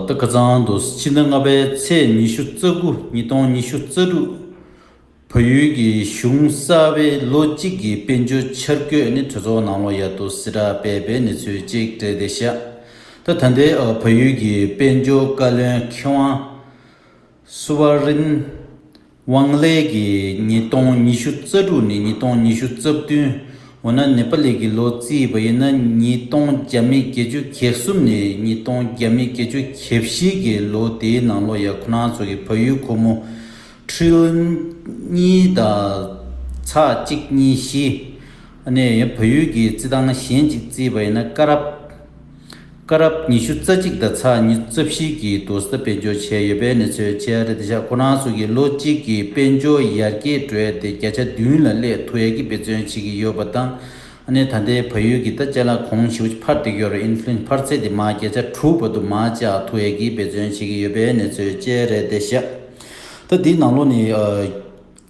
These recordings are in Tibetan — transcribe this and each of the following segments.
ཏི་ཀ་ཚང་དུ་ཕྱི་ཟླ་ལྔ་པའི་ཚེས་ཉི་ཤུ་རྩ་དགུ་ཉིས་སྟོང་ཉི་ཤུ་རྩ་དྲུག་བལ་ཡུལ་གྱི་གཞུང་གསར་པའི་ལོ་གཅིག་གི་དཔལ་འབྱོར་འཆར་བཀོད་ནི་གྲོས་ཚོགས་ནང་ལོ་ཡག་ཏུ་སྲི་ཏྲ་སྤེལ་པའི་གནས་ཚུལ་གཅིག་སྤྲད་དེ་བཞག་སྟེ་ད་ལྟའི་བལ་ཡུལ་གྱི་དཔལ་འབྱོར་བཀའ་བློན་ཁེ་ཝང་སུ་བྷ་རིན། ཝང་ལེ་གིས་ཉིས་སྟོང་ཉི་ཤུ་རྩ་དྲུག་ནས་ཉིས་སྟོང་ཉི་ཤུ་རྩ་བདུན། འོ་ན་ནེ་པ་ལི་གི་ལོ་རྩིས་པ་ཡིན་ན་ཉིས་སྟོང་བརྒྱ་མེད་བརྒྱད་ཅུ་གྱེ་གསུམ་ནས་ཉིས་སྟོང་བརྒྱ་མེད་བརྒྱད་ཅུ་གྱེ་བཞི་གི་ལོ་དེའི་ནང་ལོ་ཡ་ཁོ་ན་ཚོ་གི་བལ་ཡུལ་ཁོ་མོ། Trillion། གཉིས་དང། ཚགས་གཅིག་གཉིས་བཞི། ནས་བལ་ཡུལ་གྱི་རྩིས་ཐང་གཞན་གཅིག་རྩིས་པ་ཡིན་ན་ཀ་རབས། སྐ་རགས་ཉི་ཤུ་རྩ་གཅིག་དང་ཚགས་ཉི་རྩ་བཞི་གྱི་དུར་ས་དཔལ་འབྱོར་བྱས་ཡོད་པའི་གནས་ཚུལ་ཆེ་ཨ་རི་སྡེ་ཤག་ཁོ་ན་སོགས་ཀྱིས་ལོ་གཅིག་གི་དཔལ་འབྱོར་ཡར་རྒྱས་བགྲོད་དེ་བརྒྱ་ཆ་བདུན་ལ་སླད་དུ་ཡར་རྒྱས་འབད་བརྩོན་བྱེད་ཀྱི་ཡོད་པ་དང། ཨ་ནེ་ད་ལྟའི་ཕ་ཡུལ་གྱི་ད་ལྕགས་ལ་གོང་བཞི་བོ་འཕར་ཏེ་གཡོ་རུ Inflation འཕར་ཚད་དེ་མང་བརྒྱ་ཆ་དྲུག་བར་དུ་མང་ལྕགས་དུ་ཡར་རྒྱས་འབད་བརྩོན་བྱེད་ཀྱི་ཡོད་པའི་གནས་ཚུལ་ཆེ་ཨ་རི་སྡེ་ཤག་ད་དེའི་ནང་ལོ་ནི།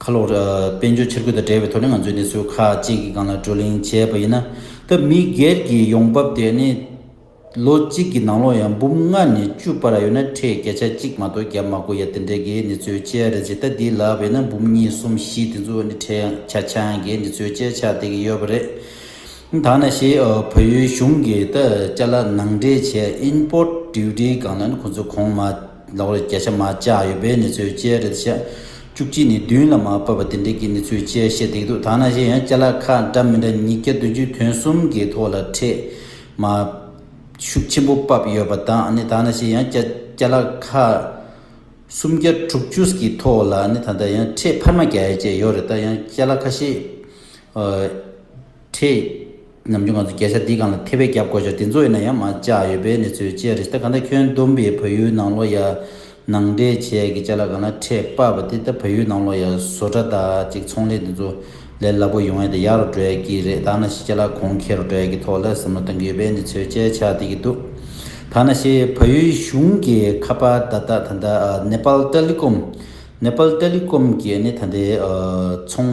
ཁ་ལོ། དཔལ་འབྱོར་འཆར་འགོད་དང་འབྲེལ་བའི་ཐོག་ནས་ང་ཚོས་གནས་ཚུལ་ཁག་ཅིག་གི་སྒང་ལ་བགྲོ་གླེང་བྱས་པ་ཡིན་ན། སྐབས་མི་སྒེར་གྱི་ཡོང་འབབ་དེ་ནི། ལོ་གཅིག་གི་ནང་ལོ་ཡང་འབུམ་ལྔ་ནས་བཅུ་བར་ཡོད་ན་ཁྲལ་བརྒྱ་ཆ་གཅིག་མ་གཏོགས་བརྒྱ་མ་དགོས་ཡ་དེ་འདྲའི་གི་གནས་ཚུལ་བཅས་རེད་ཇི་ལྟ་འདི་ལ་བས་ན་འབུམ་གཉིས་གསུམ་བཞི་དེ་ཚོ་ནི་ཁྲལ་ཡང་ཆ་ཆང་གི་གནས་ཚུལ་བཅས་ཆགས་བསྡད་ཀྱི་ཡོད་པ་རེད། ད་ནས་ཞེས་བོད་ཡུལ་གཞུང་གིས་ད་ལྕ་ལ་ནང་འདྲེན་བྱས import duty སྒང་ལ་ནི་ཁོ་ཚོས་གོང་མ། ཟླ་བར་བརྒྱ་ཆ་མ་བཅག་ཡོད་པའི་ནི་ཚོད་དཔྱད་རེད་བཤད། བཅུ་གཅིག་ནི་བདུན་ལ་མ་བབས་པ་དེ་འདྲས་ཀྱི་ནི་ཚོད་དཔྱད་བཤད་བསྡད་འདུག་ད་ནང་བཞིན་ཡང་བསྐྱར་ལ་ཁ་འདྲ་མི་འདྲ་ཉིས་བརྒྱ་བདུན་ཅུའི་དོན་གསུམ་གྱི་ཐོག་ལ་འཕྲད་མ། ཤུགས་ཆེན་པོ་བབས་ཡོད་པ་དང་ནི་ད་ནང་བཞིན་ཡང་བསྐྱར་བསྐྱར་ལ་ཁ། སུམ་བརྒྱ་དྲུག་ཅུ་སྐྱིའི་ཐོག་ལ་ནི་ད་ལྟ་ཡང་འཕྲད་འཕར་མ་བརྒྱ་ཡས་བཅས་ཡོད་རེད་ད་ཡང་བསྐྱར་ལ་ཁ་ཤས། འཕྲད། ནམ་རྒྱུན་གངས་ཚུལ་རྒྱ་ཤ་འདིས་གང་ལ་ཐེ་བས་བརྒྱབ་དགོས་ཤོག་དེ་ཚོ་ཡིན་ན་ཡང་མ་བཅག་ཡོད་པའི་གནས་ཚུལ་བཅས་རེད་ད་གང་ལྟར་ཁྱོད་བསྡོམས་པས་བོད་ཡུལ་ནང་ལོ་ཡ་ནང་འདྲེ་བྱས་ཀྱི་ལྕེ་ལ་གང་ལ་ཁྲེས་དཔག་པ་དེ་ད་བོད་ཡུལ་ནང་ལོ་ཡ་བཟོ་གྲ་དག་ཅིག་ཚོང་ལས་འདི་ཚོ་ལས་སླ་པོ་ཡོང་ཡས་ད་ཡག་རུ་འགྲོ་ཡས་ཀྱི་རེད་ད་ན་ཤི་ཆ་ལ་གོང་འཁེལ་རུ་འགྲོ་ཡས་ཀྱི་ཐོག་ལ་ཟབ་མོ་གཏོང་གི་ཡོད་པའི་གནས་ཚུལ་བཅས་ཆགས་བསྡད་ཀྱི་འདུག་ད་ན་ཤི་བོད་ཡུལ་གཞུང་གི་ཁ་པར་བརྡ་རྟགས་ད་ལྟ Nepal Telecom Nepal Telecom གྱི་ནི་ད་ལྟའི་ཚོང་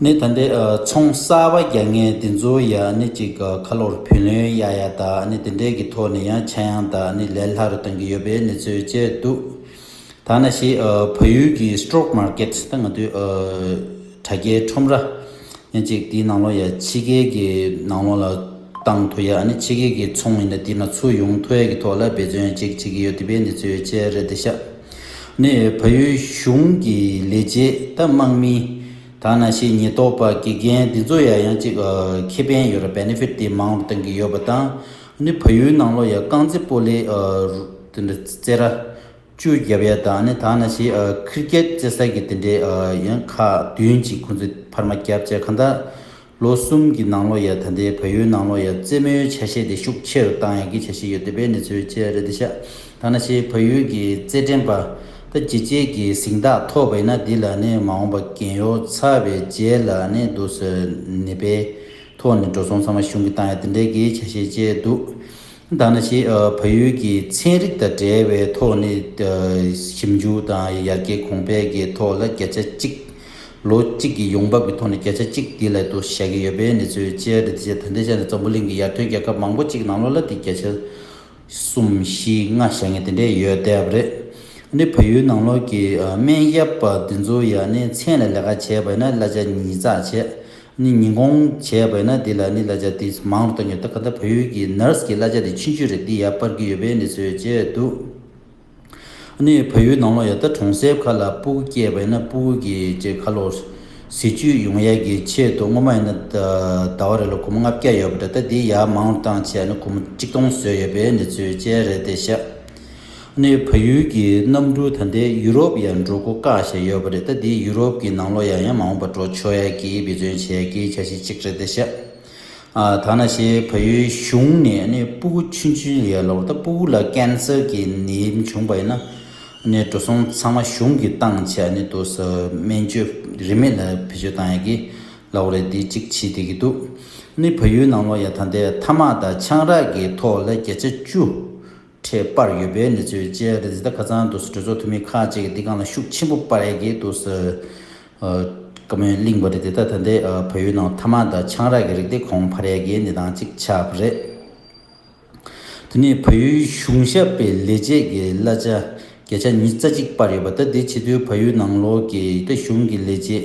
ནས་ད་འདྲའི་ཚོང་གསར་བ་རྒྱག་མཁན་དེ་ཚོ་ཡ་ནི་ཅིག་ཁ་ལོར་བུ་ལོན་ཡ་ཡ་དང་དེ་འདྲའི་གི་ཐོག་ནས་ཡང་ཆ་ཡང་དང་ལས་སླ་རུ་གཏོང་གི་ཡོད་པའི་གནས་ཚུལ་བཅས་འདུག་ཐ་ན་ཞེ་བོད་ཡུལ་གྱི Stock Market ད་ང་དུས་དྲ་རྒྱའི་ཁྲོམ་ར་ཡ་ཅིག་དེའི་ནང་ལོ་ཡ་ཕྱི་རྒྱལ་གྱི་ནང་ལོ་ལ་བཏང་ཐུ་ཡ་ནི་ཕྱི་རྒྱལ་གྱི་ཚོང་མི་ད་དེ་ན་ཚུ་ཡོང་ཐུ་ཡ་གི་ཐོག་ལ་འབད་བརྩོན་ཅིག་བྱེད་གི་ཡོད་དེ་པའི་གནས་ཚུལ་བཅས་རེད་དེ་ཤ། ནས་བལ་ཡུལ་གཞུང་གི་ལས་བྱེད་དུ་དམག་མི་དང་ན་ཤེས་ཉེས་རྟོག་པ་དགེ་རྒན་འདི་ཚོ་ཡང་ཡང་གཅིག་ཁེ་ཕན་ཡོད་ར Benefit དེ་མང་བ་གཏོང་གི་ཡོད་པ་དང་ནི་བལ་ཡུལ་ནང་ལོ་ཡ་རྐང་རྩེད་སྤོ་ལས་དེ་འདྲ་རྩེད་ར་བཅུ་རྒྱབ་ཡ་དང་ནི་དང་ན་ཤེས Cricket རྩེད་ས་གི་དེ་འདྲའི་ཡང་ཁག་བདུན་གཅིག་ཁོང་ཚོས་ཕར་མ་རྒྱབ་བཅས་གང་དག། ལོ་གསུམ་གྱི་ནང་ལོ་ཡ་ད་ལྟའི་བལ་ཡུལ་ནང་ལོ་ཡ་རྩེད་མོའི་ཆ་ཤས་དེ་ཤུགས་ཆེ་རུ་བཏང་ཡག་གི་བྱ་ཞིག་ཡོད་འདོད་པའི་གནས་ཚུལ་བཅས་རེད་འདི་ཤག་ད་ན་ཤེས་བལ་ཡུལ་གྱི་རྩེད་འགྲན་པ་ད་བྱེད་བྱེད་ཀྱི་གཟིངས་རྟགས་ཐོག་བས་ན་འདི་ལ་ནི་མ་འོངས་པ་གན་ཡོ་ཚ་བའི་རྗེས་ལ་ནི་འདུག་ཟེར་ནི་པའི་ཐོག་ནས་འགྲོ་སོང་ཚང་མ་གཞུང་གི་བཏང་ཡག་འདི་འདྲའི་གི་བྱ་ཤས་བཅས་འདུག་མདའ་ནག་ཅེས་ཕ་ཡུལ་གྱི་ཚན་རིག་དང་འབྲེལ་བའི་ཐོག་ནས་ཞིབ་འཇུག་དང་ཡར་རྒྱས་གོང་འཕེལ་གྱི་ཐོག་ལ་བརྒྱ་ཆ་གཅིག། ལོ་གཅིག་གི་ཡོང་འབབ་ཀྱི་ཐོག་ནས་བརྒྱ་ཆ་གཅིག་དེའི་སླད་དུ་བཞག་གི་ཡོད་པའི་གནས་ཚུལ་བཅས་རེད་དེ་ཆེད་ད་ལྟའི་ཆ་ནས་འཛམ་བུ་གླིང་གི་ཡར་ཐོན་རྒྱལ་ཁབ་མང་པོ་གཅིག་ནང་ལོ་ལ་དེ་བརྒྱ་ཆ་གསུམ་བཞི་ལྔ་བཞག་ངེས་དེ་འདྲས་ཡོད་བསྡད་པ་རེད། ནི་ཕ་ཡུལ་ནང་ལོགས་ཀྱི་སྨན་གཡབ་པ་འདི་ཚོ་ཡང་ནི་མཚན་ལ་ལས་ཀ་བྱས་པ་ཡིན་ན་གླ་ཆ་ཉིས་བརྩགས་བྱས། ནི་ཉིན་གུང་བྱས་པས་ན་འདི་ལ་ནི་གླ་ཆ་དེ་མང་རུ་བཏང་ཡོད་སྟབས་ག་ད་བོད་ཡུལ་གྱི Nurse གྱི་གླ་ཆ་དེ་ཕྱིན་ཆོད་རེད་འདི་ཡར་སྤར་གྱི་ཡོད་པས་ནི་བཟོས་བྱས་འདུག་ནི་བོད་ཡུལ་ནང་ལོགས་ཡ་ད་གྲོང་གསེབ་ཁག་ལ་སྤུ་གུ་སྐྱེས་པས་ན་སྤུ་གུ་གྱི་ཅེས་ཁ་ལོ། ཟེ་བཅུད་ཡོང་ཡ་གྱི་ཆེད་དུ་སྔོན་མ་ཡིན་ན་ད་བ་རེ་ལོ་གུ་མོ་ལྔ་བརྒྱ་ཡོད་པ་འདྲ་ད་འདི་ཡར་མང་རུ་བཏང་བྱས་ན་གུ་མོ་གཅིག་སྟོང་བཟོས་ཡོད་པས་ནི་བཟོས་བྱས་རེད་དེ་ཤ་ནས་བལ་ཡུལ་གྱི་གནམ་གྲུ་ད་ལྟའི་ཡུ་རོབ་ཡར་འགྲོ་སྒོ་བཀག་བཞིན་ཡོད་པ་རེད་ད་འདི་ཡུ་རོབ་ཀྱི་ནང་ལོག་ཡང་ཡང་མ་འོངས་པར་འགྲོ་ཆོག་ཡ་གི་འབད་བརྩོན་བྱེད་ཡ་གི་བྱ་ཞིག་ཅིག་རེད་ད་ཤ་ཨ་ད་ན་ཤེས་བལ་ཡུལ་གཞུང་ནས་ནས་སྤུ་གུ་ཆུན་ཆུན་ཡར་ལོག་ད་སྤུ་གུ་ལ་ཀན་སེར་གྱི་ནད་བྱུང་པ་ཡིན་ན་ནས་འགྲོ་སོང་ཚང་མ་གཞུང་གི་བཏང་བྱས་ནས་དུ་ས་སྨན་བཅོས་རིན་མེད་ལ་བེད་སྤྱོད་བཏང་ཡ་གི་ལ་བ་རེད་འདི་ཅིག་བྱེད་བསྡད་ཀྱི་འདུག་ནས་བལ་ཡུལ་ནང་ལོག་ཡ་ད་ལྟའི་ཐ་མག་དང་ཆང་རག་གི་ཐོག་ལ་བརྒྱ་ཆ་བཅུ། འཕྲད་པར་ཡོད་པའི་གནས་ཚུལ་བཅས་རེད་འདི་ལྟར་ཁ་སང་དུ་གྲོས་ཚོགས་འཐུས་མི་ཁག་ཅིག་གིས་འདི་གང་ལ་ཤུགས་ཆེན་པོ་སྤར་ཡ་གི་འདུག་ཟེར། བཀའ་མོལ་གླིང་བ་རེད་འདི་ལྟར་ད་ལྟའི་བོད་ཡུལ་ནང་ཐ་མ་ད་ཆང་རག་གི་རིགས་དེ་གོང་འཕར་ཡ་གི་གནས་སྟངས་ཅིག་ཆགས་པ་རེད། དེ་ནས་བལ་ཡུལ་གཞུང་ཞབས་པའི་ལས་བྱེད་ཀྱི་གླ་ཆ་བརྒྱ་ཆ་ཉིས་རྩ་གཅིག་སྤར་ཡོད་པ་ད་འདི་ཕྱི་དུས་བལ་ཡུལ་ནང་ལོགས་ཀྱི་ད་གཞུང་གི་ལས་བྱེད་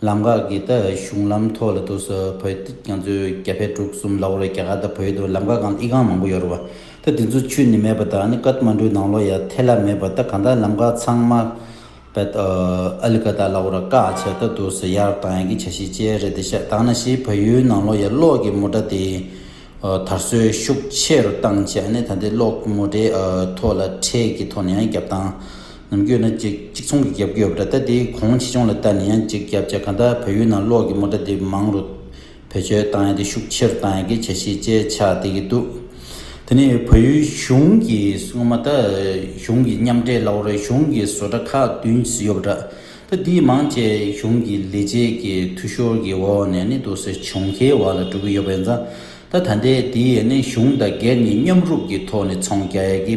ལམ་འགག་གི་ད་གཞུང་ལམ་ཐོག་ལ་དུ་སུ་བོད་རྒྱ་མཚོའི་རྒྱ་བལ་འབྲུག་གསུམ་ལ་འོ་རེད་རྒྱ་གར་ད་བོད་དུ་ལམ་འགག་གང་ཨི་གང་མང་པོ་ཡོ་རེད་བ་ད་དེ་ཚོ་ཆུ་ནི་མེད་པ་དང་ནི་ཀར་མ་འདྲུ་ནང་ལོ་ཡ་ཐེ་ལ་མེད་པ་ད་གང་ད་ལམ་འགག་ཚང་མ་བལ་ཨ་ལི་ཀ་ད་ལ་འོ་ར་ཀག་ཆེ་ད་དུ་སུ་ཡར་དང་ཡ་གི་ཆ་ཤི་ཅེ་རེད་དེ་ཤ་དང་ན་ཤི་བལ་ཡུལ་ནང་ལོ་ཡ་གློག་གི་མོ་ཏྲ་དེ་དར་སྲོལ་ཤུགས་ཆེ་རུ་བཏང་ཆེ་ཨ་ནི་ད་དེ་གློག་གི་མོ་ཏྲའི་ཐོག་ལ་ཁྲལ་གི་ཐོག་ནས་ཡང་རྒྱབ་དང། ནམ་རྒྱུན་ནི་གཅིག་གཅིག་མཚུངས་ཀྱི་རྒྱབ་རྒྱུ་ཡོད་པ་འདྲ་སྟེ་དེའི་གོང་ཕྱི་ཆུང་ལ་བལྟ་ནས་ཡང་གཅིག་རྒྱབ་བྱས་གང་ལྟར་བོད་ཡུལ་ནང་གློག་གི་མོ་ཏྲ་འདི་མང་རུ་བེད་སྤྱོད་བཏང་ཡ་དེ་ཤུགས་ཆེར་བཏང་ཡ་གི་བྱ་གཞི་བཅས་ཆགས་བསྡད་ཀྱི་འདུག་དེ་ནི་བོད་ཡུལ་གཞུང་གི་སྔོན་མ་ད་གཞུང་གི་མཉམ་འབྲེལ་ལ་བོར་གཞུང་གི་བཟོ་གྲྭ་ཁག་བདུན་ཟིན་ཡོད་པ་འདྲ་ད་འདིའི་མང་བཅས་གཞུང་གི་ལས་བྱེད་ཀྱི་འཐུས་ཤོར་གྱི་འོག་ནས་ནི་དུག་སེལ་བྱུང་ཁའི་བར་ལ་འགྲོ་གི་ཡོད་པ་ཡིན་ཙང་ད་ད་ལྟའི་འདིའི་ནི་གཞུང་དང་སྒེར་གཉིས་མཉམ་རུབ་ཀྱི་ཐོག་ནས་ཚོང་རྒྱག་ཡ་གི་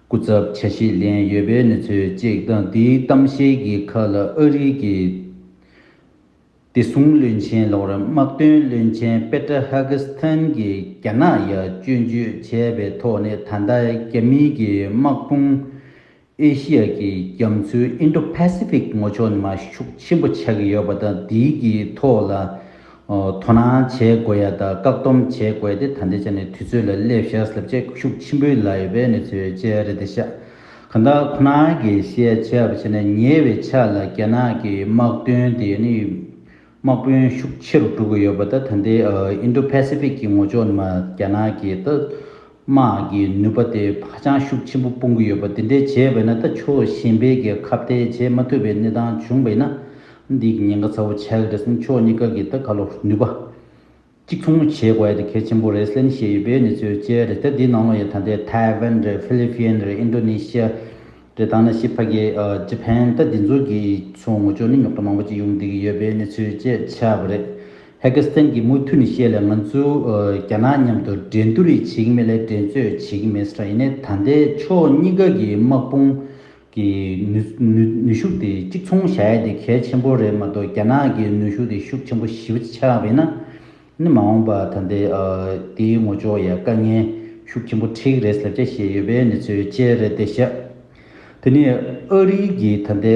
སྐུ་ཚབ་ཆ་ཤས་ལེན་ཡོད་པའི་གནས་ཚུལ་གཅིག་དང་དེའི་གཏམ་བཤད་ཀྱི་ཁ་ལ་ཨ་རིག་གི་བདེ་སྲུང་བློན་ཆེན་ལོག་རིམ་དམག་དོན་བློན་ཆེན་པེ་ཏྲ་ཧ་གི་སི་ཐན་གྱིས་རྒྱ་ནག་ཡ་བཅོས་འཇུས་བྱས་པའི་ཐོག་ནས་ད་ལྟ་རྒྱ་མིའི་གི་དམག་དཔུང་ཨེ་ཤི་ཡ་གི་རྒྱ་མཚོའི Indo-Pacific ངོ་ཕྱོགས་ནས་མ་ཤུགས་ཆེན་པོ་ཆགས་ཀྱི་ཡོད་པ་དང་དེའི་གི་ཐོག་ལ་དོ་སྣང་བྱེད་དགོས་ཡ་ད་བཀག་སྡོམ་བྱེད་དགོས་ཏེ་ད་ལྟའི་ཆ་ནས་དུས་ཚོད་ལ་སླེབས་ཤ་ཟ་ལབ་ཅེས་ཤུགས་ཆེན་པོའི་ལ་ཡོད་པའི་གནས་ཚུལ་བཅས་རེད་དེ་ཤ་ག་ད་ཁོ་ན་གི་བཤད་བྱ་བ་བྱས་ན་ཉེ་བའི་ཆ་ལ་རྒྱ་ནག་གི་དམག་དོན་དེ་ནི་དམག་དཔོན་ཤུགས་ཆེ་རུ་འགྲོ་གི་ཡོད་པ་ད་ད་ལྟའི་ཨིན་ཏྲོ་ཕ་སི་ཕིག་གི་ངོ་ཅོག་ནི་མ་རྒྱ་ནག་གི་ད་དམག་གི་ནུས་པ་དེ་བག་ཆགས་ཤུགས་ཆེན་པོ་སྤུང་གི་ཡོད་པ་དེ་འདྲའི་བྱས་བས་ན་ད་ཆོས་གཞན་པའི་རྒྱལ་ཁབ་དེ་བྱས་མ་ཐུབ་པའི་གནས་སྟངས་བྱུང་བས་ན་འདི་ཉེན་ཁ་ཚ་བོ་ཆགས་ཀྱི་རེད་བསམ་ཆོས་གཉིས་ཀ་གི་ད་ག་ལོ་ནུས་པ་གཅིག་མཚུངས་མོ་བྱེད་དགོས་ཡ་དེ་གལ་ཆེན་པོ་རེད་ལན་བཤད་ཡོད་པའི་ནི་ཚོས་བཅད་རེད་ད་འདི་ནང་ལོ་ཡ་ད་འདི་ཐའེ་ཝན་རེད་ཧྥི་ལི་ཕིན་རེད་ཨིན་ཏོ་ནི་ཤི་ཡ་རེད་ད་ནི་ཤི་ཕ་གི་ཇི་ཕན་ད་འདི་ཚོ་གི་ཚོ་ངོ་ཅོག་ནི་ཉོག་ཏྲ་མང་པོ་གཅིག་ཡོང་འདི་གི་ཡོད་པའི་ནི་ཚོས་བཅད་ཆགས་པ་རེད། ཧེ་གི་སི་ཐན་གྱིས་མུ་མཐུད་ནས་བཤད་ལ་ང་ཚོས་རྒྱ་ནག་མཉམ་དུ་འགྲན་བསྡུར་རེ་བྱེད་ཀྱི་མེད་ལ་འགྲན་རྩོད་བྱེད་ཀྱི་མེད་ས་རེད་ཡིན་ནའི་ད་ལྟའི་ཕྱོགས་གཉིས་ཀ་གི་དམག་དཔུང་གི་ནུས་ཤུགས་དེ་གཅིག་མཚུངས་བྱ་ཡ་དེ་གལ་ཆེན་པོ་རེད་མ་གཏོགས་རྒྱ་ནག་གི་ནུས་ཤུགས་དེ་ཤུགས་ཆེན་པོ་ཞི་བ་ཆགས་པས་ན་ནི་མ་འོངས་པ་ད་ལྟའི་དེའི་ངོ་ཅོག་ཡ་དཀའ་ངལ་ཤུགས་ཆེན་པོ་འཕྲིག་རེད་ཟེར་བྱ་ཞེས་ཡོད་པའི་གནས་ཚུལ་བཅས་རེད་དེ་ཤ་དེ་ནི་ཨ་རིའི་གི་ད་ལྟའི་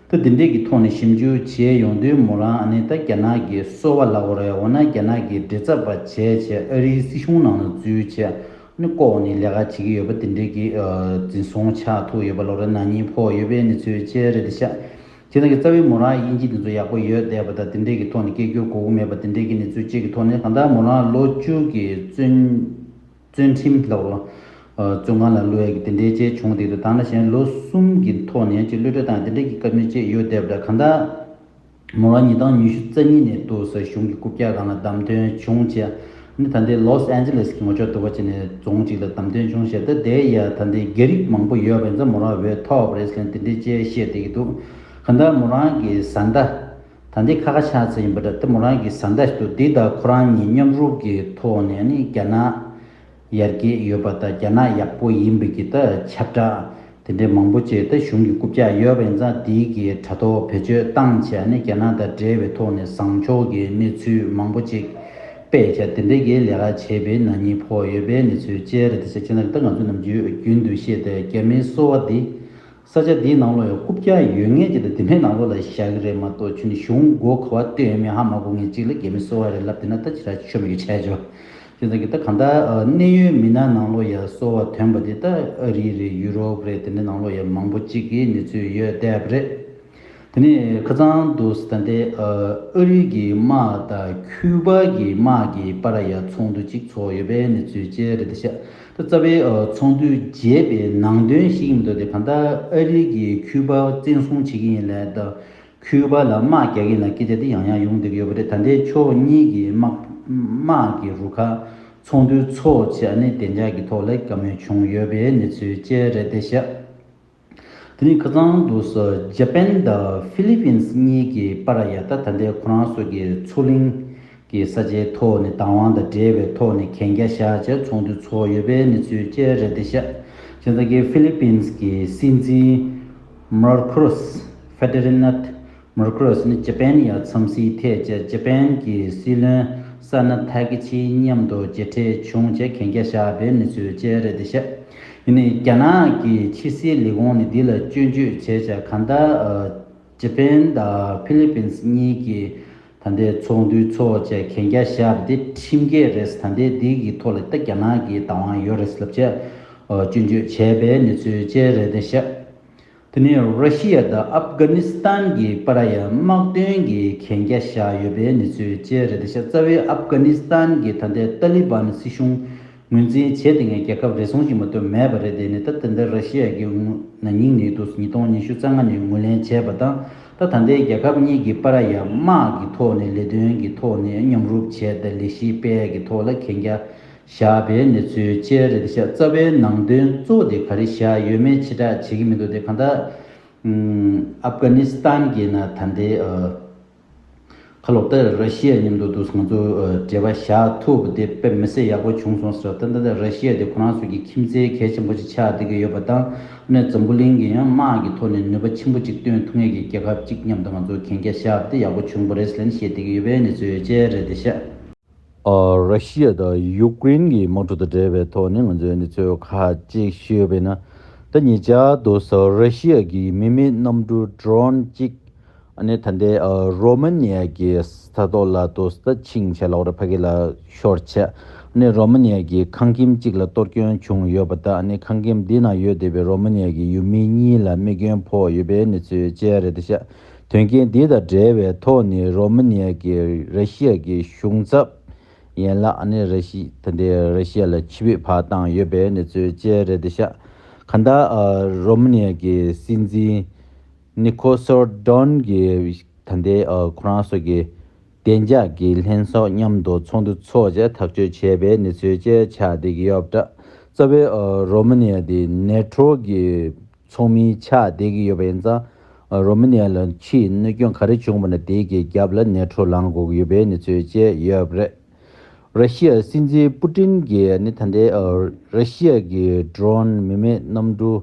ཐུ་འདི་འདྲས་ཀྱི་ཐོག་ནས་ཞིབ་འཇུག་བྱེད་ཡོང་དུས་མོ་རང་ཨ་ནེ་ད་རྒྱ་ནག་གི་སོ་བ་ལག་པ་རེད་འོ་ན་རྒྱ་ནག་གིས་འདྲི་རྩད་པ་བྱས་བྱས་ཨ་རིའི་སྲིད་གཞུང་ནང་ན་འཛུལ་བྱས་ནས་ལྐོག་ནས་ལས་ཀ་བྱེད་ཀྱི་ཡོད་པ་འདི་འདྲས་ཀྱིས་འཛིན་བཟུང་ཆགས་ཐུག་ཡོད་པ་ལོ་རེ་ནང་གཉིད་ཕོག་ཡོད་པའི་གནས་ཚུལ་བཅས་རེད་དེ་ཤ་ཁྱེད་རང་གི་རྩ་བའི་མོ་རང་དབྱིན་ཇི་འདི་ཚོ་ཡག་པོ་ཡོད་བསྡད་པ་དང་འདི་འདྲས་ཀྱི་ཐོག་ནས་སྐད་སྒྱུར་གོ་གུ་མེད་པ་འདི་འདྲས་ཀྱི་གནས་ཚུལ་བཅས་ཀྱི་ཐོག་ནས་གང་ལྟར་མོ་རང་ལོ་བཅུ་གྱི་བཙོན། བརྩོན་ཁྲིམས་ལ་བརྩོན་ཁང་ལ་གློད་ཀྱི་དེ་འདྲའི་བཅས་བྱུང་དེ་དུ་ད་ན་གཞན་ལོ་གསུམ་གྱི་ཐོག་ནས་ཀྱི་གློད་གྲོལ་དང་དེ་འདྲ་གྱི་སྐབས་ནས་བཅས་ཡོད་བསྡད་པ་འདྲ་གང་ལྟར། མོ་རང་ཉིད་དང་ཉི་ཤུ་རྩ་གཉིས་ནས་ཏུའུ་ས་གཞུང་གི་རྐུབ་བཀྱག་ཁང་ལ་བདམས་ཐོན་བྱུང་ཆེ་ནི་ད་ལྟའི་ལོ་སི་ཨན་ཇི་ལེས་གི་ངོ་ཅོག་ཏུ་བ་ཅི་ནས་རྫོང་གཅིག་ལ་བདམས་ཐོན་བྱུང་ཞེས་ད་ལྟའི་ཡ་ད་ལྟའི་རྒྱ་རིགས་མང་པོ་ཡོད་པ་ཡིན་ཙང་མོ་རང་འོས་ཐོབ་རེས་ལན་དེ་འདྲའི་བཅས་བཤད་བསྡད་ཀྱི་འདུག་གང་ལྟར་མོ་རང་གི་བཟའ་ཟླ། ད་འདི་ཁ་ཁ་ཆག་ཆག་ཡིན་པ་འདྲ་སྟེ་མོ་རང་གིས་བཟའ་ཟླ་ཞིག་ཏུ་འདི་ལྟར་ཁོ་རང་གཉིས་མཉམ་རུབ་ཀྱི་ཐོག་ནས་ནི་རྒྱ་ནག་ཡར་རྒྱས་ཡོད་པ་དང་རྒྱ་ནག་ཡག་པོ་ཡིན་པའི་གི་ད་ཁྱབ་བསྒྲགས་དེ་འདྲའི་མང་པོ་བྱས་ཏེ་གཞུང་གི་རྐུབ་ལྕག་གཡོ་བས་མཛའ་འདི་གི་དྲ་ཐོག་བེད་སྤྱོད་བཏང་བྱས་ནི་རྒྱ་ནག་དང་འབྲེལ་བའི་ཐོག་ནས་བཟང་ཕྱོགས་ཀྱི་གནས་ཚུལ་མང་པོ་ཅིག་སྤེལ་བྱས་དེ་འདྲའི་གི་ལས་ཀ་བྱས་པས་ན་གཉིས་ཕོག་ཡོད་པའི་གནས་ཚུལ་བཅས་རེད་དེ་ཚེ་ཆེན་ལགས་གི་ད་ང་ཚོས་ནམ་རྒྱུན་དུ་བཤད་དེ་རྒྱ་མིའི་གསོ་བ་འདི་ས་ཆ་འདིའི་ནང་ལོ་ཡང་ཧུབ་རྒྱག་ཡོད་ངེས་ཅི་ལྟ་དེ་མེད་ནང་ལོ་ལ་བཞག་གི་རེད་མ་གཏོགས་ཆུ་ནི་གཞུང་སྒོ་ཁ་བ་སྟོད་ཡོད་མེད་ཧ་མ་གོ་ངེས་གཅིག་ལ་རྒྱ་མི་གསོ་བ་རེད་ལབ་དེ་ན་ད་ཅི་ར་ཆོ་མེད་གི་ཆས་ཆོ། ཁྱོད་ཚང་གི་ད་གང་ལྟར་གནས་ཡོད་མི་ན་ནང་ལོ་ཡ་གསོ་བ་དོན་པ་དེ་ད་ཨ་རི་རེད་ཡུ་རོབ་རེད་དེ་འདྲ་ནང་ལོ་ཡ་མང་པོ་གཅིག་གི་ནི་ཚུད་ཡོད་དེབ་རེད། དེ་ནས་ཁ་ཚང་དུ་ད་ལྟའི་ཨ་རི་གི་དམག་དང་ཁྱུ་པ་གི་དམག་གི་པ་ར་ཡ་ཚོགས་འདུ་གཅིག་ཚོགས་ཡོད་པའི་གནས་ཚུལ་བཅས་རེད་ད་ཤ་ད་རྩ་བའི་ཚོགས་འདུའི་རྒྱས་པའི་ནང་དོན་ཞིག་མི་འདུག་དེ་གང་ལྟར་ཨ་རི་གི་ཁྱུ་པ་བཙན་བཟུང་བྱེད་ཀྱི་ཡིན་ལད་ད་ཁྱུ་པ་ལ་དམག་རྒྱག་གི་ལ་སྐད་ཆ་དེ་ཡང་ཡང་ཡོང་བསྡད་ཡོད་པ་རེད་ད་ལྟའི་ཕྱོགས་གཉིས་ཀྱི་དམག་གི་རུ་ཁག་ཚོགས་འདུ་ཚོགས་བྱས་ནས་བདེ་འཇགས་ཀྱི་ཐོག་ལ་བཀའ་མོལ་བྱུང་ཡོད་པའི་གནས་ཚུལ་བཅས་རེད་ད་ཤ། དེ་ནི་ཁ་ཚང་དུ་ཇཱ་པན་དང་ཧྥི་ལི་ཕིན་སི་གཉིས་ཀྱིས་པ་ར་ཡ་ཐ་ད་ལྟའི་ཁོ་རང་སོགས་ཀྱི་མཚོ་གླིང་གི་ས་ཆའི་ཐོག་ནས་བདག་དབང་དང་འབྲེལ་བའི་ཐོག་ནས་གན་རྒྱ་བཞག་རྗེས་ཚོགས་འདུ་ཚོགས་ཡོད་པའི་གནས་ཚུལ་བཅས་རེད་དེ་ཤ་ཇེ་ད་ཀིས་ཧྥི་ལི་ཕིན་སི་གྱི་སྲིད་འཛིན་མར་ཁུ་རོས་ཧྥེ་ཏེ་རི་ནད་མུར་ཀུ་རོས་ནི་ཅི་པན་ཡ་མཚམས་སྲིད་ཐད་ཀྱི་ཅི་པན་གྱི་སྲིད་བློན་ས་ནི་ཐ་ཀི་ཆིའི་མཉམ་དུ་གྱེས་འཕྲད་བྱུང་ཅེས་གན་རྒྱ་བཞག་པའི་གནས་ཚུལ་བཅས་རེད་འདི་ཤེས། ཡིན་ནའི་རྒྱ་ནག་གི་ཕྱི་སྲིད་ལས་ཁུངས་ནི་འདི་ལ་སྐྱོན་བརྗོད་བྱས་ཆ་ག་ད་ཅི་པན་དང་ཕི་ལི་པིན་སི་གཉིས་ཀྱི་ད་ལྟའི་ཚོགས་འདུའི་ཚོགས་ཅེས་གན་རྒྱ་བཞག་པ་དེ་ཁྲིམས་འགལ་རེད་ད་ལྟའི་འདི་གི་ཐོག་ལ་ད་རྒྱ་ནག་གི་བདག་དབང་ཡོད་རེད་ལབ་ཅེས་སྐྱོན་བརྗོད་བྱས་པའི་གནས་ཚུལ་བཅས་རེད་འདི་ཤེས། དེ་ནི་རཱ་ཤི་ཡ་དང་ཨབ་གྷ་ནི་སི་ཐན་གྱི་པ་ར་ཡ་དམག་དོན་གྱི་གན་རྒྱ་བཞག་ཡོད་པའི་གནས་ཚུལ་བཅས་རེད་དེ་ཤ་ཚ་བའི་ཨབ་གྷ་ནི་སི་ཐན་གྱི་ད་ལྟའི་ཏཱ་ལི་བན་སྲིད་གཞུང་ངོས་འཛིན་བྱས་དེ་ངས་རྒྱལ་ཁབ་རེ་ཟུང་ཞིག་མ་གཏོགས་མེད་པ་རེད་དེ་ནི་ད་ད་ལྟའི་རཱ་ཤི་ཡ་གི་ན་ནིང་ནི་དུས་ཉིས་སྟོང་ཉི་ཤུ་རྩ་ལྔ་ནས་ངོས་ལེན་བྱས་པ་དང་ད་ད་ལྟའི་རྒྱལ་ཁབ་གཉིས་ཀྱི་པ་ར་ཡ་དམག་གི་ཐོག་ནས་ལས་དོན་གྱི་ཐོག་ནས་མཉམ་རུབ་བྱས་ཏཱ་ལི་ཤི་སྤལ་གྱི་ཐོག་ལ་གན་རྒྱ་བཞག་པའི་གནས་ཚུལ་བཅས་རེ་བཞག་རྩ་བའི་ནང་དོན་གཙོ་བོ་དེ་ག་རེ་བཞག་ཡོད་མེད་ཕྱི་བསྒྲགས་བྱེད་ཀྱི་མི་འདུག་དེ་གང་དག་ཨབ་གྷ་ནི་སི་ཐན་གྱི་ན་ད་ལྟའི་ཁ་ལོ་པས་ར་ཤི་ཡ་མཉམ་དུ་འདུག་ང་ཚོ་འབྲེལ་བ་བཞག་ཐུབ་དེ་དཔེ་མི་གསལ་ཡག་པོ་བྱུང་སོང་ཟེར་ད་ལྟ་ར་ཤི་ཡ་དེ་ཁོ་རང་ཚོ་གི་ཁྱིམ་མཚེས་གལ་ཆེན་པོ་ཞིག་ཆགས་བསྡད་ཀྱི་ཡོད་པ་དང་ཨ་ནེ་འཛམ་བུ་གླིང་གི་ཡང་དམག་གི་ཐོག་ནས་ནུས་པ་ཆེན་པོ་ཅིག་བཏོན་ཐུབ་ངེས་ཀྱི་རྒྱལ་ཁབ་ཅིག་མཉམ་དུ་ང་ཚོ་གན་རྒྱ་བཞག་པ་དེ་ཡག་པོ་བྱུང་པ་རེད་ཟེར་ནས་བཤད་བསྡད་ཀྱི་ཡོད་པའི་གནས་ཚུལ་བཅས་རེ་བཞག། ར་ཤི་ཡ་དང་ཡུག་ཀེ་རིན་གྱི་དམག་འཁྲུག་དང་འབྲེལ་བའི་ཐོག་ནས་ང་ཚོས་གནས་ཚུལ་ཁ་ཅིག་ཤེས་ཡོད་པས་ན། ད་ཉེ་ཆར་དུ་ས་ཨུད་ར་ཤི་ཡ་གྱི་མི་མེད་གནམ་གྲུ Drone གཅིག་ནི་ད་ལྟའི་རོ་མ་ནི་ཡ་གྱི་ས་ཐོག་ལ་དུ་ས་ཕྱིང་ཆ་ལོག་རེ་ཕ་གི་ལ་ཤོར་ཆེད་ནི་རོ་མ་ནི་ཡ་གྱི་ཁང་ཁྱིམ་གཅིག་ལ་གཏོར་སྐྱོན་བྱུང་ཡོད་པ་དང་ནི་ཁང་ཁྱིམ་དེའི་ནང་ཡོད་བསྡད་པའི་རོ་མ་ནི་ཡ་གྱི་ཡུལ་མི་གཉིས་ལ་རྨས་སྐྱོན་ཕོག་ཡོད་པའི་གནས་ཚུལ་བཅས་རེད་ད་ཤ་དོན་རྐྱེན་འདི་དང་འབྲེལ་བའི་ཐོག་ནས་རོ་མ་ནི་ཡ་ཀྱིས་ར་ཤི་ཡ་གི་གཞུང་ཚབ་ཡན་ལག་ནས་ར་ཤི་ཐ་དེ་ར་ཤི་ཡ་ལ་ཕྱི་བོད་ཕར་བཏང་ཡོད་པའི་གནས་ཚུལ་བཅས་རེད་འདུག་ཤག་ག་ད་རོ་མ་ནི་ཡ་གི་སྲིད་འཛིན་ནི་ཁོ་སོར་དོན་གྱི་ད་དེ་ཁོ་རང་སོགས་ཀྱི་བདེ་འཇགས་ཀྱི་ལྷན་སོགས་མཉམ་དུ་ཚོགས་འདུ་ཚོགས་རྗེས་ཐག་གཅོད་བྱས་པའི་གནས་ཚུལ་བཅས་ཆགས་བསྡད་ཀྱི་ཡོད་པ་འདྲ་རྩ་བའི་རོ་མ་ནི་ཡ་དེ་ནེ་ཀྲོ་གི་ཚོགས་མིའི་ཕྱག་བསྡད་ཀྱི་ཡོད་པ་ཡིན་ཙང། རོ་མི་ནེ་ལ་ཕྱིའི་གནོད་སྐྱོན་ག་རེ་བྱུང་བ་ནི་དེའི་རྒྱབ་ལ་ནེ་ཁྲོ་ལངས་དགོས་ཀྱི་ཡོད་པའི་གནས་ཚུལ་བཅས་ཡོད་པ་རེད། ར་ཤི་ཡ་སྲིད་འཛིན་པུ་ཏིན་གྱིས་ནི་ད་ལྟའི་ར་ཤི་ཡ་གྱི Drone མི་མེད་གནམ་གྲུ་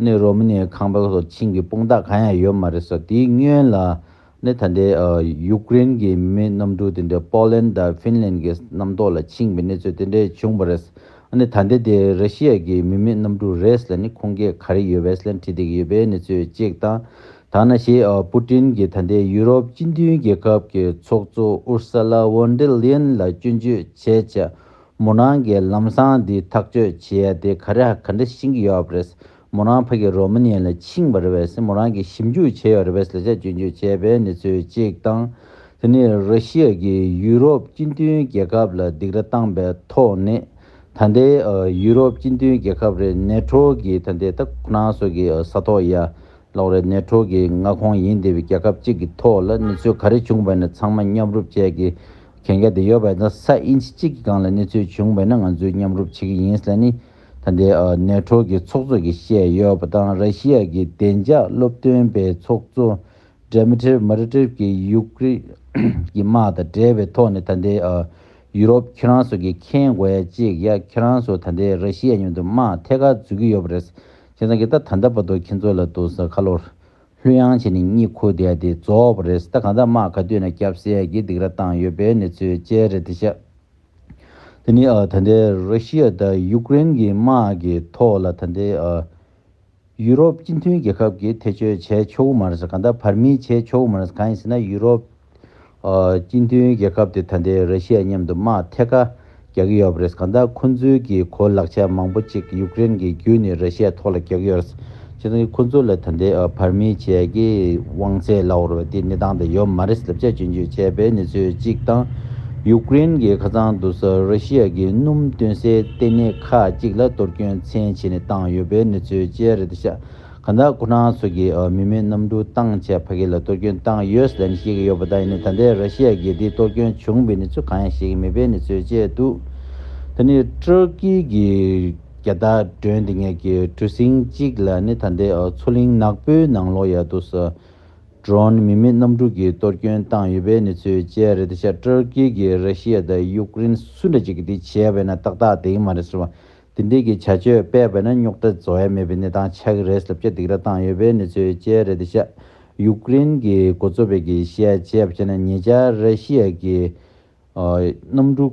ནི་རོ་མི་ནེའི་ཁང་པ་སོགས་ཆིངས་ཀྱི་དཔུང་རྟགས་གང་ཡང་ཡོད་མ་རེད་ཟེར་དེའི་སྔོན་ལ་ནས་ད་ལྟའི་ཡུཀ་རེན་གྱི་མི་གནམ་གྲུ་དེ་འདྲས་པོ་ལན་དང་ཧྥིན་ལན་གྱི་གནམ་ཐོག་ལ་ཕྱིན་པའི་གནས་ཚུལ་དེ་འདྲས་བྱུང་བ་རེད། ཨ་ནི་ད་ལྟའི་དེ་ར་ཤི་ཡ་གྱི་མི་མི་གནམ་གྲུ་རེས་ལ་ནི་ཁོང་གིས་ག་རེ་ཡོད་བེས་ལན་ཁྲིད་དེ་ཡོད་པའི་གནས་ཚུལ་གཅིག་དང། ཐ་ན་ཞེས་པུ་ཏིན་གྱིས་ད་ལྟའི་ཡུ་རོབ་སྤྱི་མཐུན་རྒྱལ་ཁབ་ཀྱི་ཚོགས་གཙོ་ཨུར་སཱ་ལ་ཝོན་ཏེ་ལིན་ལ་སྐྱོན་བརྗོད་བྱེད་ཆེད་མུ་ནང་གི་ལམ་སང་འདི་ཐག་གཅོད་བྱེད་ཡ་དེ་ག་རེ་ག་འདྲ་ཤིང་གི་ཡོད་རེད། མོ་རང་ཕ་གི་རོ་མ་ནིའི་ལ་ཕྱིན་པ་རེད་བས་སེ་མོ་རང་གིས་ཞིབ་འཇུག་བྱས་ཡོད་རེད་བས་ལ་ཆ་རྒྱུན་སྤྱོད་བྱས་པའི་གནས་ཚུལ་གཅིག་དང། དེ་ནི་ར་ཤི་ཡ་གིས་ཡུ་རོབ་སྤྱི་མཐུན་རྒྱལ་ཁབ་ལ་སྡིགས་ར་བཏང་པའི་ཐོག་ནས་ད་ལྟའི་ཡུ་རོབ་སྤྱི་མཐུན་རྒྱལ་ཁབ་རེ་ནེ་ཁྲོ་གི་ད་ལྟའི་ད་ཁུ་ནང་སོགས་ཀྱི་ས་ཐོག་ཡ་ལོག་རེ་ནེ་ཁྲོ་གི་མངའ་ཁོངས་ཡིན་དེ་བས་རྒྱལ་ཁབ་གཅིག་གི་ཐོག་ལ་གནས་ཚུལ་ག་རེ་བྱུང་བས་ན་ཚང་མ་མཉམ་རུབ་བྱས་ཀྱི་གན་རྒྱ་དེ་ཡོད་བས་ན་ས་ཨིན་ཇི་གཅིག་གི་སྒང་ལ་གནས་ཚུལ་བྱུང་བས་ན་ང་ཚོས་མཉམ་རུབ་བྱེད་ཀྱི་ཡིན་ལ་ནི། ད་ལྟའི་ནེའུ་ཁྲོའུ་གྱི་ཚོགས་གཙོ་གིས་བཤད་ཡོད་པ་དང་ར་ཤི་ཡ་གྱི་བདེ་འཇགས་སློབ་སྟོན་པའི་ཚོགས་གཙོ་སྒྲེ་མི་ཐེར་མཱ་རི་ཏེབ་ཀྱིས་ཡུཀ་རེན་གྱི་དམག་དང་འབྲེལ་བའི་ཐོག་ནས་ད་ལྟའི་ཡུ་རོབ་ཁྱེད་རང་ཚོ་གིས་མཁྱེན་དགོས་ཡ་གཅིག་ཡ་ཁྱེད་རང་ཚོ་ད་ལྟའི་ར་ཤི་ཡ་མཉམ་དུ་དམག་ཐད་ཀར་འཛུལ་གྱི་ཡོད་པ་རེད་ཁྱེད་རང་གིས་ད་ད་ལྟ་བར་དུ་ཁྱེད་ཚོ་ལ་དུ་ས་ཁ་ལོ་ལྷུན་ཡང་བྱས་ནས་གཉིད་ཁུག་བསྡད་དེ་རྫོགས་པ་རེད་ད་གང་ལྟར་དམག་ག་དུས་ན་སྐྱབས་སེ་ཡ་གྱིས་སྡིགས་ར་བཏང་ཡོད་པའི་གནས་ཚུལ་བཅས་རེད་དེ་ཤ། དེ་ནི་ད་ལྟའི་རཱུ་ཤི་ཡ་དང་ཡུག་ཀེ་རེན་གྱི་དམག་གི་ཐོག་ལ་ད་ལྟའི་ཡུ་རོབ་སྤྱི་མཐུན་རྒྱལ་ཁབ་ཀྱིས་ཐེ་བྱུས་བྱས་ཆོག་གི་མ་རེད། གང་ལྟར་བར་མིས་བྱས་ཆོག་གི་མ་རེད། གང་ཡིན་ཟེར་ན་ཡུ་རོབ་སྤྱི་མཐུན་རྒྱལ་ཁབ་དེ་ད་ལྟའི་རཱུ་ཤི་ཡ་མཉམ་དུ་དམག་ཐད་ཀ་རྒྱག་གི་ཡོད་པ་རེད། གང་ལྟར་ཁོ་ཚོའི་གི་གོ་ལག་ཆ་མང་པོ་ཅིག་ཡུག་ཀེ་རེན་གྱི་བརྒྱུད་ནས་རཱུ་ཤི་ཡ་ཐོག་ལ་རྒྱག་གི་ཡོད་རེད། ཁྱེད་རང་གིས་ཁོ་ཚོ་ལ་ད་ལྟའི་བར་མི་བཅས་ཀྱི་དབང་ཚད་བླ་འོར་བ་དེའི་གནས་སྟངས་དེ་ཡོད་མ་རེད་ཟེར་ལབ་དཔྱད་སྤྱོད་འཇུག་བྱས་པའི་གནས་ཚུལ་གཅིག་དང། ཡུག་ཀེ་རེན་གྱི་ཁ་ཚང་དུ་ས་རཱ་ཤི་ཡ་གྱི་སྣུམ་སྟོན་སའི་ལྟེ་གནས་ཁག་ཅིག་ལ་གཏོར་སྐྱོན་ཚན་ཕྱེ་ནས་བཏང་ཡོད་པའི་གནས་ཚུལ་བཅས་རེད་ཤག་ག་ནག་ཁོ་རང་ཚོ་གི་མི་མེད་གནམ་གྲུ་བཏང་ཆས་ཕ་གི་ལ་གཏོར་སྐྱོན་བཏང་ཡོད་ཟེར་ནས་བཤད་ཀྱི་ཡོད་པ་དག་ཡིན་ན་ད་ལྟའི་རཱ་ཤི་ཡ་གྱི་དེའི་གཏོར་སྐྱོན་བྱུང་བའི་གནས་ཚུལ་གང་ཡང་བཤད་ཀྱི་མེད་པའི་གནས་ཚུལ་བཅས་འདུག་ད་ནི་ཏྲོ་ཀི་གི་རྒྱ་དག་སྒྲོན་འདི་ངེད་ཀྱི་གྲུ་གཟིངས་གཅིག་ལ་ནི་ད་ལྟའི་མཚོ་གླིང་ནག་པོའི་ནང་ལོགས་ཡར་དུ་སོ་སྒྲོན་མི་མེད་གནམ་གྲུ་གིས་གཏོར་སྐྱོན་བཏང་ཡོད་པའི་གནས་ཚུལ་བཅས་རེད་དེ་ཆ་ཀྲར་ཀེ་གིས་ར་ཤི་ཡ་དང་ཡུཀ་རེན་སུ་འདྲ་གཅིག་གིས་དེ་བྱས་པས་ན་ཏག་ཏག་དེ་ཡིན་མ་རེད་ཟེར་བ་དེ་འདྲིས་ཀྱི་བྱ་སྤྱོད་སྤེལ་བས་ན་རྙོག་དྲ་བཟོ་ཡ་མེད་པའི་གནས་སྟངས་ཆགས་ཀྱི་རེད་ཟེར་བརྒྱ་སྡིག་ར་བཏང་ཡོད་པའི་གནས་ཚུལ་བཅས་རེད་དེ་ཆ་ཡུཀ་རེན་གྱི་འགོ་གཙོ་བས་གིས་བཤད་བྱས་པ་བྱས་ན་ཉེ་ཆར་ར་ཤི་ཡ་གིས་གནམ་གྲུ།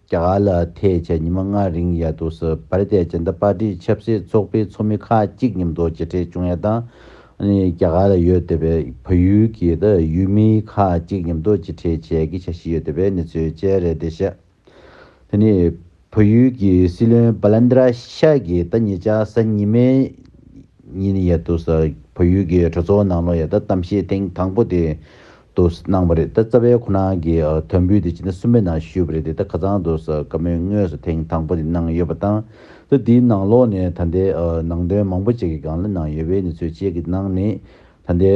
རྒྱ་གར་ལ་ཐེ་བྱས་ཉི་མ་ལྔ་རིང་ཡ་ཏུ་སི་བྷ་རི་ཏའི་ཇཱན་ཏ་པཱ་ཏིའི་ཆབ་སྲིད་ཚོགས་པའི་ཚོགས་མི་ཁག་གཅིག་མཉམ་དུ་རྗེས་ཁྲེས་ཆུང་ཡ་དང། རྒྱ་གར་ལ་ཡོད་བསྡད་པའི་བལ་ཡུལ་གྱི་ཡུལ་མི་ཁག་གཅིག་མཉམ་དུ་རྗེས་ཁྲེས་བྱས་ཀྱི་འཆར་གཞི་ཡོད་བསྡད་པའི་གནས་ཚུལ་བཅས་རེད་དེ་བཤད། དེ་ནས་བལ་ཡུལ་གྱི་སྲིད་བློན་བཱ་ལན་དར་ཤ་གིས་ད་ཉེ་ཆར་གཟའ་ཉི་མའི་ཉིན་ཡ་ཏུ་སི་བལ་ཡུལ་གྱི་གྲོས་ཚོགས་ནང་ལོ་ཡ་ད་གཏམ་བཤད་ཐེངས་དང་པོ་དེ་དུ་གནང་བ་རེད་ད་རྩ་བའི་ཁོ་ན་གི་དོན་འབུལ་དེ་སྤྱི་ཟླ་གསུམ་པའི་ནང་ཞུས་པ་རེད་དེ་ད་ག་ཚང་དུ་བཀའ་མོལ་དངོས་སུ་ཐེངས་དང་པོ་དེ་གནང་ཡོད་པ་དང་ད་དེའི་ནང་ལོག་ནས་ད་ལྟའི་ནང་དོན་མང་པོ་བཅས་ཀྱི་སྒང་ལ་གནང་ཡོད་པའི་གནས་ཚུལ་བཅས་ཀྱི་ནང་ནས་ད་ལྟའི་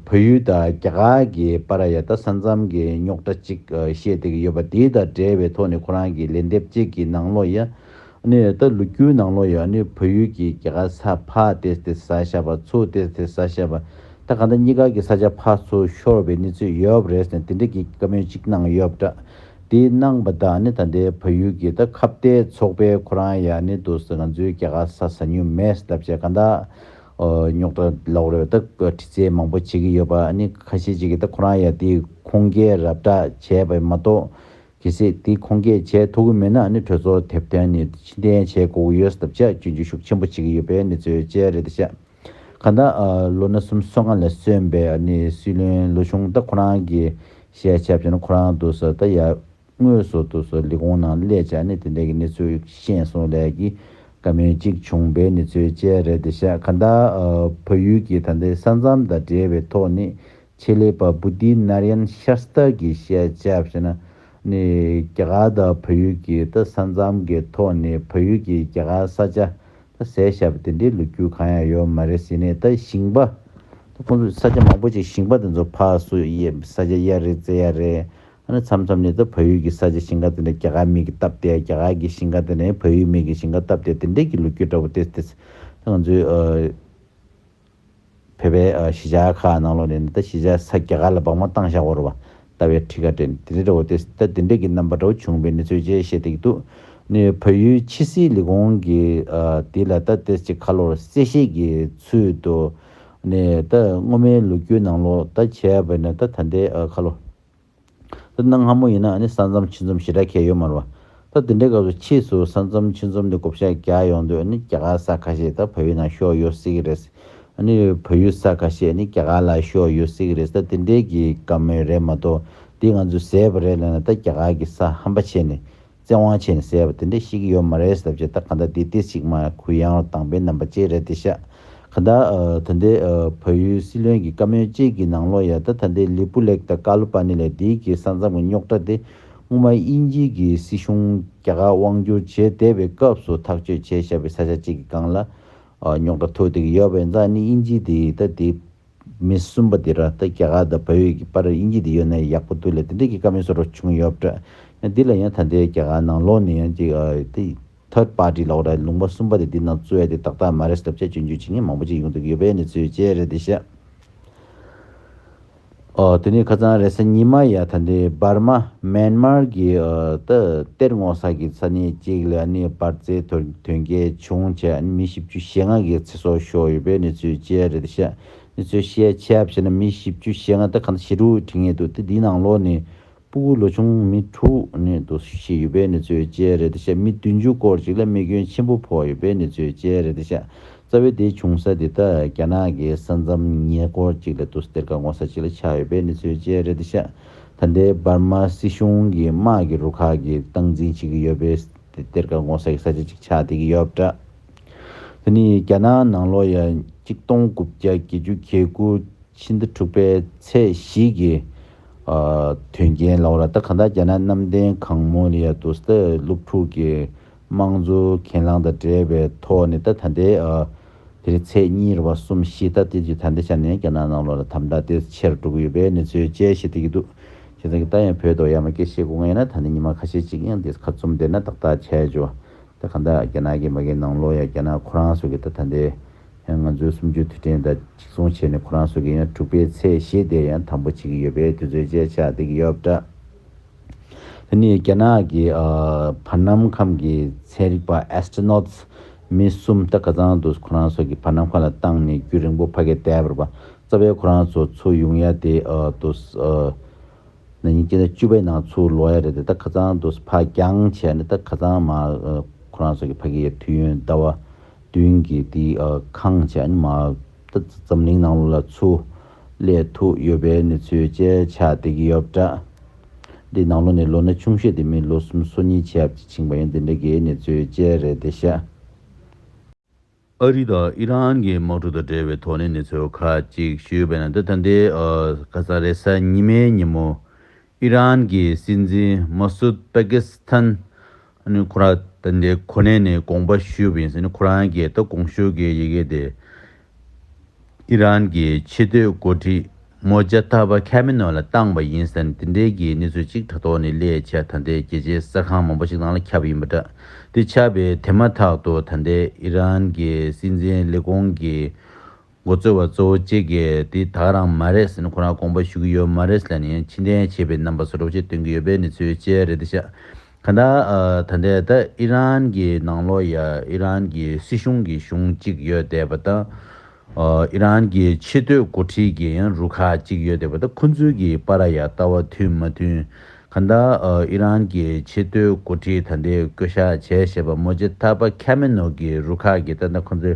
བོད་ཡུལ་དང་རྒྱ་གར་གྱི་པ་ར་ཡ་ད་ས་མཚམས་ཀྱི་རྙོག་དྲ་གཅིག་བཤད་བསྡད་ཀྱི་ཡོད་པ་དེ་དང་འབྲེལ་བའི་ཐོག་ནས་ཁོ་རང་གི་ལན་འདེབས་བཅས་ཀྱི་ནང་ལོག་ཡ་ནི་ད་ལོ་རྒྱུའི་ནང་ལོ་ཡོད་ནི་བོད་ཡུལ་གྱི་རྒྱལ་ཁ་ས་ཕ་སྟེ་སྟེ་ས་ཤ་པ་ཚུ་སྟེ་སྟེ་ས་ཤ་པ་ད་ག་ད་གཉིས་ཀ་གི་ས་ཆ་ཕ་ཚུ་ཤོར་བའི་གནས་ཚུལ་ཡོད་རེད་ཟེར་དེ་འདྲ་གི་བཀའ་མོལ་གཅིག་གནང་ཡོད་འདྲ་དེ་གནང་པ་དག་ནི་ད་ལྟའི་བོད་ཡུལ་གྱི་ད་ཁ་བརྡའི་ཚོགས་པའི་ཁོ་རང་ཡ་ནི་འདུག་ཟེར་ང་ཚོའི་རྒྱལ་ཁ་ས་ཟ་ཉུལ་མེད་ཟེར་ལབ་བྱས་ག་ད་རྙོག་དྲ་ལོག་རེ་བ་ད་བཀའ་ཁྲི་ཚེ་མང་པོ་བྱེད་ཀྱི་ཡོད་པ་ནི་ཁ་ཤས་ཅིག་གི་ད་ཁོ་རང་ཡ་དེ་ཁུངས་སྐྱེལ་རབ་གྲགས་བྱས་པ་མ་གཏོགས་གལ་སྲིད་དེ་ཁོང་སྐད་བྱས་ཐུབ་ཀྱི་མེད་ན་ནི་གྲོས་ཚོགས་དེབ་སྟོན་ནས་ཕྱི་འཐེན་བྱས་དགོས་ཀྱི་ཡོད་སྟབས་དཔྱད་བརྗོད་རྒྱུ་ཤུགས་ཆེན་པོ་བྱེད་ཀྱི་ཡོད་པའི་གནས་ཚུལ་བཅས་རེད་དེ་ཤག་ག་ད་ལོ་ན་གསུམ་སོ་ལྔ་ལས་སོན་པའི་ནི་སྲིད་བློན་ལོ་ཆུང་ད་ཁོ་རང་གི་ཤས་ཆ་བྱས་ན་ཁོ་རང་དུ་སོ་ད་ཡར་དངོས་སུ་དུ་སོ་ལས་ཁུངས་ནང་སླེ་བྱས་ནི་དེ་འད་ཀྱི་གནས་ཚུལ་ཤེས་སོང་ལས་ཀྱི་བཀའ་མོལ་གཅིག་བྱུང་པའི་གནས་ཚུལ་བཅས་རེད་དེ་ཤག་ག་ད་བོད་ཡུལ་གྱི་ད་འདའི་ས་མཚམས་དང་འབྲེལ་བའི་ཐོག་ནི་ཆེད་ལས་པ་བུ་དྷི་ནཱར་ཡན་ཤཱ་སྟ་གིས་བཤད་བྱ་བྱས་ན་ནི་རྒྱ་གར་དང་བོད་ཡུལ་གྱི་ས་མཚམས་ཀྱི་ཐོག་ནས་བོད་ཡུལ་གྱི་རྒྱ་གར་ས་ཆ་ཟས་བྱ་བ་དེ་འདྲའི་ལུ་གུ་གང་ཡང་ཡོད་མ་རེད་ཟེར་ནས་ཞིང་པ་ཁོང་ཚོ་ས་ཆ་མང་པོ་ཅིག་ཞིང་པ་དེ་ཚོ་ཕ་སུ་ས་ཆ་གཡར་རེད་བཙལ་ཡར་རེད་ཨ་ནི་མཚམས་མཚམས་ནས་བོད་ཡུལ་གྱི་ས་ཆ་ཞིང་ཁ་དེ་འདྲ་རྒྱ་གར་མིག་གིས་བཏབ་སྟེ་རྒྱ་གར་གྱི་ཞིང་ཁ་དེ་འདྲ་བོད་ཡུལ་མིག་གིས་ཞིང་ཁ་བཏབ་སྟེ་དེ་འདྲའི་གྱི་ལུ་གུ་འདྲ་བོ་དེ་ཚོ་ང་ཚོའི་བོད་པའི་གཞིས་ཆགས་ཁག་ནང་ལོ་ནས་ནི་ད་གཞིས་ཆགས་ས་རྒྱ་གར་ལ་སྦག་མ་བཏང་བཞག་བོར་བ་ལྟ་བའི་ཁྲི་ཁ་དྲན་དེ་འདྲའི་འདྲ་བོ་སྟེ་ད་དེ་འདྲས་ཀྱི་རྣམ་པ་འདྲ་བོ་བྱུང་བའི་གནས་ཚུལ་བཅས་བཤད་དེ་གི་འདུག་ནི་བོད་ཡུལ་ཕྱི་སྲིད་ལས་ཁུངས་ཀྱི་དེ་ལ་ད་དེ་ཅིག་ཁ་ལོར་གསལ་བཤད་ཀྱི་ཚུལ་དུ་ནི་ད་སྔོན་མའི་ལོ་རྒྱུས་ནང་ལོ་ད་བྱས་པ་ནི་ད་ད་ལྟའི་ཁ་ལོ། ད་གནའ་སྔ་མོ་ཡིན་ན་ནི་ས་མཚམས་ཕྱི་འཛོམས་ཞེ་དྲག་ཁྱད་ཡོད་མ་རུང་བ། ད་དེ་འདྲའི་སྐབས་སུ་ཕྱིས་སུ་ས་མཚམས་ཕྱི་འཛོམས་དེ་གོ་བཤའ་རྒྱག་ཡོང་དུས་ནི་རྒྱ་གར་ས་ཁ་ཤས་ད་བོད་ཡུལ་ནང་ཤོར་ཡོད་སྲིད་ཀྱི་རེད། ནི་བོད་ཡུལ་ས་ཁ་ཤས་ནི་རྒྱ་གར་ལ་ཤོར་ཡོད་སྲིད་ཀྱི་རེད་ད་དེ་འདྲའི་གི་དགའ་མོས་རེད་མ་གཏོགས་འདི་ང་ཚོས་ཟས་པ་རེད་ལབ་ན་ད་རྒྱ་གར་གི་ས་ཧམ་པ་བྱས་ནས་བཙན་དབང་ཆེ་ནས་ཟེར་བ་དེ་འདྲ་ཞིག་གི་ཡོད་མ་རེད་ཟབ་བྱེད་ད་ག་འདྲ་དེ་དེ་ཞིག་མ་གུ་ཡངས་ལ་དང་པའི་རྣམ་པ་ཅིག་རེད་དེ་ཤག་ག་ད་ད་འདི་བོད་ཡུལ་སྲིད་བློན་གི་བཀའ་མོལ་གཅིག་གི་ནང་ལོ་ཡ་ད་ད་འདི་ལི་པུ་ལེག་ད་ཀ་ལུ་པ་ནི་ལ་དིའི་གི་ས་མཚམས་གི་རྙོག་གྲ་དེ་སྔོན་མ་དབྱིན་ཇིའི་གི་སྲིད་གཞུང་རྒྱ་གར་དབང་བསྒྱུར་བྱེད་བསྡད་པའི་སྐབས་སུ་ཐག་གཅོད་བྱས་བཞག་པའི་ས་ཆ་གཅིག་གི་སྒང་ལ་རྙོག་གྲ་ཐུག་འདུག་ཡོད་པས་འཛག་ནི་དབྱིན་ཇིའི་དེའི་ད་དེའི། མི་གསུམ་པ་དེ་ར་ལྟ་རྒྱ་གར་དང་བལ་ཡུལ་གྱི་པར་རེར་དབྱིན་ཇི་དེ་ཡོད་ན་ཡག་པོ་འདུག་ལས་དེ་འདྲས་ཀྱི་དཀའ་མི་སོ་རོགས་བྱུང་ཡོད་པྲ་ཡང་འདི་ལ་ཡང་ད་ལྟའི་རྒྱ་གར་ནང་ལོགས་ནས་ཡང་གཅིག་དེ Third Party ལོགས་ར་ལུང་པ་གསུམ་པ་དེ་འདི་ནང་བཙུད་ཡ་དེ་ཏག་ཏག་མ་རེད་བསླབ་བྱ་སྤྱོད་འཇུག་བྱེད་མཁན་མང་པོ་ཅིག་ཡོང་འདུག་ཡོད་པའི་གནས་ཚུལ་བཅས་རེད་དེ་ཤ་ཨོ་དེ་ནས་ཁ་ཚང་རེད་ས་ཉི་མ་ཡ་ད་འདི Burma Myanmar གྱི་ད་གཏེར་སྔོག་ས་གྱི་ས་གནས་གཅིག་ལ་ནས་པར་རྩེད་དོན་གལ་བྱུང་བྱས་མི་བཞི་བཅུ་ཞེ་ལྔ་གྱི་སོགས་ཤོག་ཡོད་པའི་གནས་ཚུལ་བཅས་རེད་བཤད། གནས་ཚུལ་བཤད་ཆ་བྱས་ན་མི་བཞི་བཅུ་ཞེ་ལྔ་སྟེ་གང་ཟླ་ཞེ་དྲུག་ཁྲི་ངེས་འདུག་སྟེ་འདིའི་ནང་ལོགས་ནས་སྤུ་གུ་ལོ་ཆུང་མི་དྲུག་གནས་འདུག་བཞི་ཡོད་པའི་གནས་ཚུལ་བཅས་རེད་བཤད་མི་བདུན་ཅུ་སྐོར་ཅིག་ལ་རྨས་སྐྱོན་ཆེན་པོ་ཕོག་ཡོད་པའི་གནས་ཚུལ་བཅས་རེད་བཤད་རྩ་བའི་དེའི་བྱུང་ས་དེ་དག་རྒྱ་ནག་གི་ས་མཚམས་ཉེ་སྐོར་ཅིག་ལ་འདུག་གཏེར་ཁ་སྔོ་ས་ཅིག་ལ་ཆགས་ཡོད་པའི་གནས་ཚུལ་བཅས་རེད་བཤད་ད་ལྟའི་འབར་མ་སྲིད་གཞུང་གི་དམག་གི་རུ་ཁག་གི་སྟངས་འཛིན་བྱེད་ཀྱི་ཡོད་པའི་གཏེར་ཁ་སྔོ་ས་ཡི་ས་ཆ་ཅིག་ཆགས་བསྡད་ཀྱི་ཡོད་པ་འདྲ། དེ་ནི་རྒྱ་ནག་ནང་ལོ་ཡ་གཅིག་སྟོང་དགུ་བརྒྱ་བརྒྱད་ཅུ་གྱ་དགུ་ཕྱི་ཟླ་དྲུག་པའི་ཚེས་བཞི་གི་དོན་རྐྱེན་ལའོ། ད་ལྟ་གང་ལྟར་རྒྱ་ནག་གནམ་བསྟན་གང་མོ་ལི་ཡ་དུ་སྟག་སློབ་ཕྲུག་གི་དམངས་གཙོ་གྱེན་ལངས་དང་འབྲེལ་བའི་ཐོག་ནས་ད་ད་ལྟའི་དེ་རིང་ཚེས་གཉིས་རེ་བ་གསུམ་བཞི་ད་ལྟའི་དུས་ད་ལྟའི་ཆ་ནས་རྒྱ་ནག་ནང་ལོ་ལ་དམ་དྲག་དེ་ཆེར་གྲུབ་ཀྱི་ཡོད་པའི་གནས་ཚུལ་དཔྱད་གཞི་དེ་གྱི་འདུག་ཁྱེད་རང་གིས་ད་ཡང་བོད་དོག་ཡ་མ་སྐད་བཤད་དགོས་ངེས་ཡིན་ན་ད་ནི་ཉི་མ་ཁ་ཤས་གཅིག་ཡང་འདས་ཁ་བཙུམ་བསྡད་ན་ཏག་ཏག་ཆད་འགྱོ། དེ་གང་དག་རྒྱ་ནག་གི་མ་གི་ནང་ལོག་ཡང་རྒྱ་ནག་ཁོ་རང་སོ་གི་ད་ད་འདི་ཡང་ང་ཚོའི་སུམ་ཅུ་དུས་དྲན་ད་གཅིག་མཚུངས་བྱས་ནས་ཁོ་རང་སོ་གི་ཡང་དྲུག་པའི་ཚེས་བཞི་དེར་ཡང་དམ་པོ་བྱེད་ཀྱི་ཡོད་པའི་དུས་ཚོད་བཅས་ཆགས་བསྡད་ཀྱི་ཡོད་པ་འདྲ། དེ་ནི་རྒྱ་ནག་གི་བར་སྣང་ཁམས་ཀྱི་ཚན་རིག་པ Astronauts མི་གསུམ་ད་ག་ཚང་དུ་ཁོ་རང་སོ་གི་བར་སྣང་ཁ་ལ་བཏང་ནས་རྒྱུ་རིང་པོ་ཕ་གས་བསྡད་པར་བ་ཙའ་བས་ཁོ་རང་ཚོ་ཚོ་ཡུང་ཡ་དེ་དུ། ན་ཉིན་གཅིག་ན་བཅུ་པའི་ནང་ཚུར་ལོག་ཡ་རེད་དེ་ད་ཁ་ཚང་འདུག་ས་ཕག་རྒྱང་བྱས་ནས་ད་ཁ་ཚང་མ་ཁོ་རང་ཚོ་གི་ཕ་གི་ཡ་དུས་ཡོན་ཟླ་བ་བདུན་གི་དེ་ཁང་བྱས་ནས་མ་ད་འཛམ་གླིང་ནང་ལོ་ལ་ཚུར་སླེ་ཐུག་ཡོད་པའི་གནས་ཚུལ་བཅས་ཆགས་བསྡད་ཀྱི་ཡོད་འདྲ། འདི་ནང་ལོ་ནས་ལོ་ན་ཆུང་ཤོས་དེ་མིན་ལོ་གསུམ་སོ་གཉིས་ཆའབ་ཅིག་ཕྱིན་པ་ཡིན་དེ་འདྲ་གི་གནས་ཚུལ་བཅས་རེད་དེ་ཤ། ཨ་རི་དང་ཨི་རན་གྱི་དམག་གྲུ་དང་འབྲེལ་བའི་དོགས་གནས་གནས་ཚུལ་ཁག་ཅིག་ཞུས་པ་ན་འདི་ད་ལྟའི་ཁ་སང་རེས་གཟའ་ཉི་མའི་ཉིན་མོ་ཨི་རན་གྱི་སྲིད་འཛིན་མ་སུད་པེ་ཀི་སི་ཐན་ཁོ་རང་ད་ལྟའི་གོ་གནས་ནས་དགོངས་པ་ཞུས་པ་ཡིན་ཟེར་ནས་ཁོ་རང་གིས་ད་དགོངས་ཞུ་གི་ཡི་གེ་དེ། ཨི་རན་གྱི་ཕྱི་སྡོད་འགོ་ཁྲིད་མོ་ཇཱ་ཐ་བྷ་ཁྷ་མེ་ནོ་ལ་བཏང་བ་ཡིན་ཟེར་ནས་དེ་འབྲེལ་གྱི་གནས་ཚུལ་གཅིག་དྲ་ཐོག་ནས་ལས་བྱེད་ད་ལྟའི་རྒྱལ་སྤྱིའི་གསར་ཁང་མང་པོ་ཞིག་ནང་ལ་ཁྱབ་ཡིན་པ་འདྲ་དེ་ཆགས་པའི་དེ་མ་ཐག་ཏུ་ད་ལྟའི་ཨི་རན་གྱི་སྲིད་འཛིན་ལས་ཁུངས་ཀྱི་མགོ་གཙོ་བ་གཙོ་བོ་གཅིག་གིས་དེ་དག་རང་མ་རེད་ཟེར་ནས་ཁོ་རང་དགོངས་པ་ཞུ་གི་ཡོད་མ་རེད་ཟེར་ནས་ཕྱི་འཐེན་བྱས་པའི་རྣམ་པ་སོགས་སྒྲོག་བཤད་སྟོན་གྱི་ཡོད་པའི་གནས་ཚུལ་བཅས་རེད་འདི་ཤག་ད་ལྟ་ད་ལྟའི་ད་ཨི་རན་གྱི་ནང་ལོ་ཡ་ཨི་རན་གྱི་སྲིད་གཞུང་གི་གཞུང་གཅིག་ཡོད་བསྡད་པ་དང། ཨི་རན་གྱི་ཆེ་བསྟོད་འགོ་ཁྲིད་ཀྱི་ཡང་རུ་ཁག་གཅིག་ཡོད་བསྡད་པ་དང་ཁོ་ཚོའི་གི་པ་ར་ཡ་ལྟ་བ་མཐུན་མ་མཐུན། ག་ད་ཨི་རན་གྱི་ཆེ་བསྟོད་འགོ་ཁྲིད་ད་ལྟའི་བསྐོས་བཞག་བྱས་ཞེས་པ་མོ་ཇེ་ཐ་པ་ཁ་མེ་ནོ་གི་རུ་ཁག་གི་ད་ད་ཁོ་ཚོའི་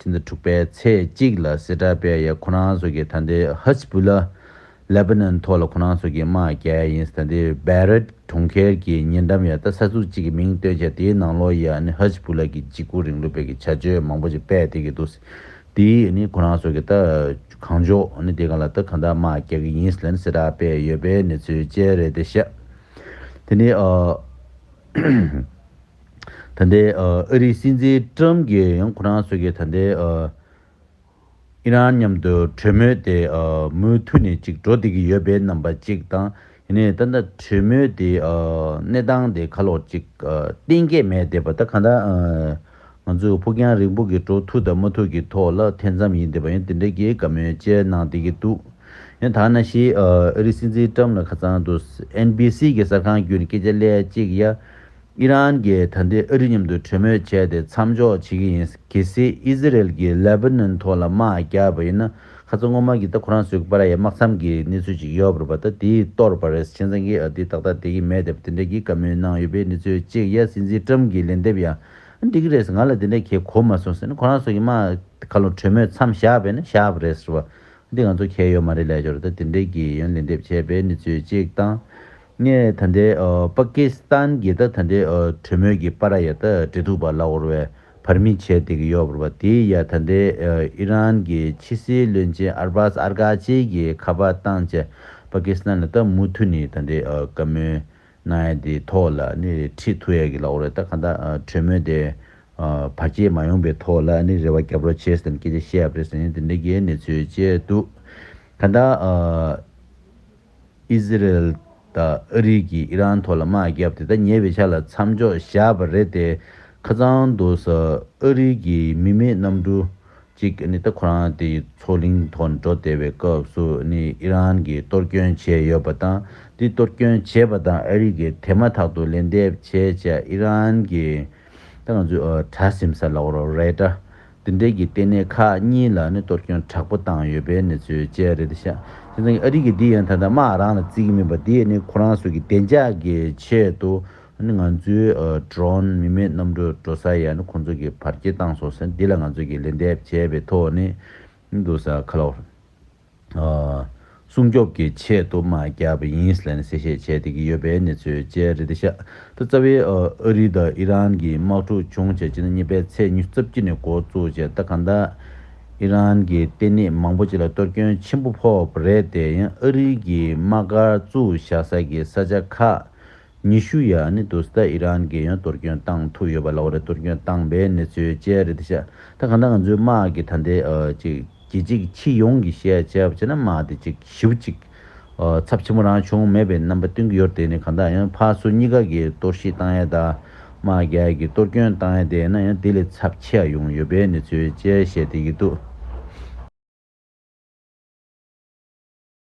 ཕྱི་ཟླ་དྲུག་པའི་ཚེས་གཅིག་ལ་སི་ཏྲ་པེ་ཡའི་ཁོ་རང་སོ་ཀྱི་དྷ་སྡེ་ཧཱིས་བུ་ལ། Lebanon། ཐོག་ལ་ཁོ་རང་སོ་ཀྱི་དམག་རྒྱལ་ཡིན་སི་ཏྲ་སྡེ Beirut གྲོང་ཁྱེར་གྱི་ཉེ་འགྲམ་ཡ་ཏཱ་ས་ཚུགས་གཅིག་གི་མིང་བཏོན་ཆེད་དེའི་ནང་ལོ་ཡ་ནི་ཧཱིས་བུ་ལ་གི་འཇིགས་སྐུལ་རིང་ལུགས་བེད་ཀྱི་བྱ་སྤྱོད་མང་པོ་ཅིག་སྤེལ་བསྡད་ཀྱི་འདུག་སི་ཏྲ་ཡིས་ནི་ཁོ་རང་སོ་ཀྱི་ད་གང་ཕྱོགས་ནི་དེ་ག་ལ་ད་གང་དག་དམག་རྒྱག་གི་ཡིན་སི་ལན་སི་ཏྲ་པེ་ཡོད་པའི་གནས་ཚུལ་བཅས་རེད་དེ་ཤ་དེ་ནི་ཨ། ད་ལྟའི་ཨ་རིའི་སྲིད་འཛིན Trump གྱིས་ཡང་ཁོ་རང་ཚོ་གི་ད་ལྟའི Iran མཉམ་དུ་གྲོས་མོལ་དེ་མུ་མཐུད་ནས་ཅིག་འགྲོ་བསྡད་ཀྱི་ཡོད་པའི་རྣམ་པ་ཅིག་དང་ཡིན་ནའི་ད་ལྟ་གྲོས་མོལ་དེ་གནས་སྟངས་དེ་ཁ་ལོག་ཅིག་གཏན་འཁེལ་མེད་བསྡད་པ་ད་གང་ལྟར་ང་ཚོས་ཕུགས་རྒྱང་རིང་པོ་གི་འགྲོ་ཐུབ་དང་མ་ཐུབ་ཀྱི་ཐོག་ལ་ཐེ་ཚོམ་ཡིན་བསྡད་པ་ཡང་དེ་འདྲའི་གི་དགའ་མོས་བཅས་གནང་བསྡད་ཀྱི་འདུག་ཡང་དག་ན་གཞི་ཨ་རིའི་སྲིད་འཛིན Trump ལ་ཁ་ཚང་དུ NBC གི་གསར་ཁང་བརྒྱུད་ནས་སྐད་ཆ་ལས་ཅིག་ཡ། ཨི་རན་གྱིས་ད་ལྟའི་ཨ་རི་མཉམ་དུ་གྲོས་མོལ་བྱས་ཏེ་མཚམས་འཇོག་བྱེད་ཀྱི་ཡིན། གལ་སྲིད་ཨི་ཟི་རེལ་གྱིས་ལེ་བྷ་ནོན་ཐོག་ལ་དམག་རྒྱག་པ་ཡིན་ན་ཁ་ཚ་དངོས་མང་གི་ད་ཁོ་རང་ཚོའི་པར་ཡ་དམག་མཚམས་ཀྱི་གནས་ཚུལ་ཅིག་ཡོད་པར་བ་ད་དེའི་ལྟོར་བ་རེད་ཆན་ཙང་གིས་ཨ་དེ་ཏག་ཏག་དེ་གི་མེད་དེ་བ་དེ་འདྲ་གི་བཀའ་མོལ་གནང་ཡོད་པའི་གནས་ཚུལ་གཅིག་ཡ་སྲིད་འཛིན་ཀྲམ་གྱིས་ལན་འདེབས་ཡ་འགྲིག་གི་རེད་ཟེར་ང་ལ་དེ་འདྲ་གལ་གོ་མ་སོང་ཟེར་ན་ཁོ་རང་ཚོ་གི་དམག་ག་ལོ་གྲོས་མོལ་མཚམས་བཞག་པས་ན་བཞག་པ་རེད་ཟེར་བ་འདི་ང་ཚོ་གལ་ཡོད་མ་རེད་ལས་སྦྱོར་ད་དེ་འདྲ་གི་ཡོན་ལན་འདེབས་བྱས་པའི་གནས་ཚུལ་གཅིག་དང། ངས་ད་ལྟའི་པ་ཀི་སི་ཐན་གྱི་ད་ལྟའི་གྲོས་མོལ་གྱི་པ་ར་ཡ་ད་འབྲེལ་ཐུག་པ་ལ་དབོར་བའི་བར་མི་བྱེད་བསྡད་ཀྱི་ཡོད་པར་བ་དེའི་ཡ་ད་ལྟའི་ཨི་རན་གྱི་ཕྱི་སྲིད་བློན་ཆེན་ཨར་བྷ་སི་ཨར་གྷ་ཅི་གྱི་ཁ་པ་བཏང་བཅས་པ་ཀི་སི་ཐན་ལ་ད་མུ་མཐུད་ནས་ད་ལྟའི་བཀའ་མོལ་གནང་ཡ་དེའི་ཐོག་ལ་ནི་ཁྲིད་ཐུག་ཡ་གི་ལ་དབོར་བའི་ད་ག་ད་གྲོས་མོལ་དེ་བར་བརྗེད་མ་ཡོང་པའི་ཐོག་ལ་ནི་རེ་བ་རྒྱབ་རོགས་བྱེད་ཟེར་ནས་སྐད་ཆ་བཤད་ཡ་པ་རེད་ཟེར་ནས་དེ་འདྲའི་གྱི་གནས་ཚུལ་བཅས་འདུག་ད་ད། ཨི་ཟི་རལ་དང་ཨ་རིག་གིས་ཨི་རན་ཐོག་ལ་དམག་བརྒྱབ་སྟེ་ད་ཉེ་བའི་ཆ་ལ་མཚམས་འཇོག་བཞག་པ་རེད་དེ། ཁ་ཚང་དུ་ས་ཨ་རིག་གི་མི་མེད་གནམ་གྲུ་གཅིག་ད་ཁོ་རང་དེ་མཚོ་གླིང་ཐོག་འགྲོ་བདེ་བའི་སྐབས་སུ་ཨི་རན་གྱིས་གཏོར་སྐྱོན་བྱས་ཡོད་པ་དང་དེ་གཏོར་སྐྱོན་བྱས་པ་དང་ཨ་རིག་གིས་དེ་མ་ཐག་ཏུ་ལན་འདེབས་བྱས་བྱས་ཨི་རན་གྱིས་ད་ང་ཚོས་དྲ་སིམ་སར་ལོག་རོགས་རེད་དྲ། འདི་འདྲས་ཀྱི་ལྟེ་གནས་ཁག་གཉིས་ལ་ནི་གཏོར་སྐྱོན་དྲག་པོ་བཏང་ཡོད་པའི་གནས་ཚུལ་བཅས་རེད་ཤག་དེ་ཚང་གི་ཨ་རིག་གི་འདི་ཡང་ད་ལྟ་དམག་རང་ལ་བརྩི་གི་མིན་པ་དེ་ནི་ཁོ་རང་སོ་གི་བདེ་འཇགས་ཀྱི་ཆེད་དུ་ནི་ང་ཚོའི Drone མི་མེད་གནམ་གྲུ་འགྲོ་ས་ཡ་ནི་ཁོང་ཚོ་གི་བར་སྐྱེལ་བཏང་སོང་ཟེར་འདི་ལ་ང་ཚོ་གི་ལན་འདེབས་བྱས་པའི་ཐོག་ནས་འདུག་ས་ཁ་ལོག། སྲུང་སྐྱོབ་ཀྱི་ཆེད་དུ་དམག་རྒྱག་པ་ཡིན་ལན་གསལ་བཤད་བྱས་འདུག་གི་ཡོད་པའི་གནས་ཚུལ་བཅས་རེད་དེ་ཤ་སྟག་རྩ་བའི་ཨ་རི་དང་ཨི་རན་གྱི་དམག་འཁྲུག་བྱུང་རྗེས་ཕྱི་ཟླ་གཉིས་པའི་ཚེས་ཉི་རྩ་བརྒྱུད་ནས་འགོ་བཙུགས་རྗེས་ད་ག་འདའ་ཨི་རན་གྱི་ལྟེ་གནས་མང་པོ་ཅིག་ལ་གཏོར་སྐྱོན་ཆེན་པོ་ཕོག་པ་རེད་དེ་ཡང་ཨ་རི་གྱི་དམག་སྒར་བཙུགས་བཞག་ས་ཀྱི་ས་ཆ་ཁག་ཉི་ཤུ་ཡ་ནི་དུ་སྟ་ཨི་རན་གྱི་ཡོན་གཏོར་སྐྱོན་བཏང་ཐུབ་ཡོད་པ་ལ་འོ་རེ་གཏོར་སྐྱོན་བཏང་པའི་གནས་ཚུལ་བཅས་རེད་འདི་ཤ་ད་གང་ལྟར་ང་ཚོའི་དམག་གི་ད་ལྟའི་གྱི་གཅིག་ཕྱི་ཡོངས་ཀྱི་ཤ་ཅེས་པ་བྱས་ན་དམག་དེ་གཅིག་ཞིབ་གཅིག་ཚབ་ཆེན་པོ་རང་བྱུང་མེད་པའི་རྣམ་པ་སྟོན་གྱི་ཡོད་དེ་ནི་གང་ལྟར་ཡང་ཕ་སུ་གཉིས་ཀ་གི་གཏོར་བཤིག་བཏང་ཡ་དང་དམག་རྒྱལ་གྱི་གཏོར་སྐྱོན་བཏང་ཡ་དེ་ན་ཡང་དེ་ལས་ཚབ་ཆེ་ཡ་ཡོང་ཡོད་པའི་གནས་ཚུལ་བཅས་བཤད་དེ་ཡི་འདུག།